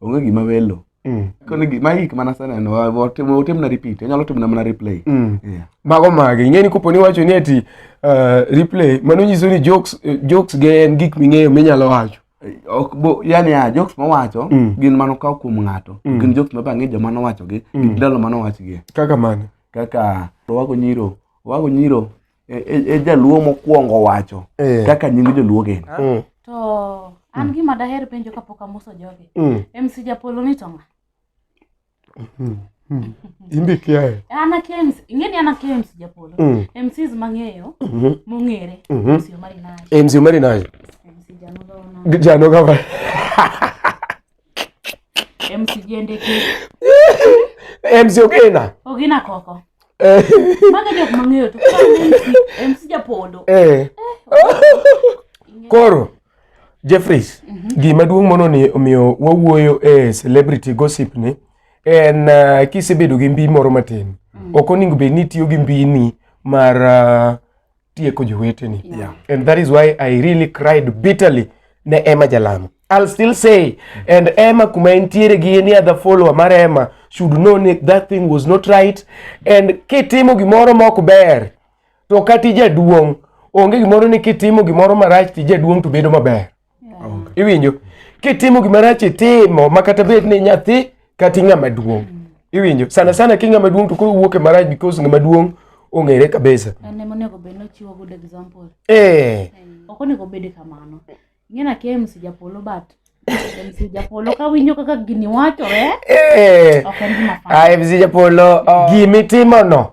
onge gima welo mm. koni gima hik mana seneno otim na repeat onyalo timo na mana replay mm. yeah. mago mage ing'eni kopo ni wacho ni ati uh, replay mano nyiso ni jokes, eh, jokes ge en gik ming'eyo minyalo wacho ok bo yani a jokes mowacho mm. gin mano kaw kuom ng'ato mm. gin jokes ma bang'e joma nowachogi mm. ndalo ma nowachgie kaka mano kaka wago nyiro wago nyiro e, e, e jaluo mokwongo wacho eh. kaka nying joluo gin ah. mm. to an mm. gima daher penjo kapok amoso jogi mm. mc japolo ni tonga mm-hmm. mm. imbe kiae an akia mc ing'eni an akia mc japolo mm. mcs mang'eyo mm-hmm. mong'ere mm-hmm. mc omari nayo mc omari nayo mc janoga janoga MC Ogina. Ogina koko. Eh. Maga jok mang'eyo to MC Japodo. Eh. eh Koro Jeffries, mm -hmm. gima duong' mono ni omiyo wawuoyo e celebrity gossip ni en uh, kisebedo gi mbi moro matin. Mm. Ok oningo bed ni tiyo gi mbini mar uh, tieko joweteni yeah. and that is why i really cried bitterly ne Emma Jalamo I'll still say and Emma kuma entiere gi any other follower mar Emma should know ni that thing was not right and kitimo gimoro mok ber to kati jaduong' onge gimoro ni kitimo gimoro marach ti jaduong' to bedo maber Iwinjo? Kitimo gima rach itimo ma kata bed ni nyathi kata ng'ama duong'. Iwinjo? Sana sana ki ng'ama duong' to koro wuok e marach because ng'ama duong' ong'ere kabisa. An ema onego bed nochiwo good example. Eh. Ok onego bed kamano. Ing'ena kia MC Japolo but MC Japolo ka winjo kaka gini wachore. Eh. Ok en gima fun. Ah, MC Japolo. Oh. Gimi timo no.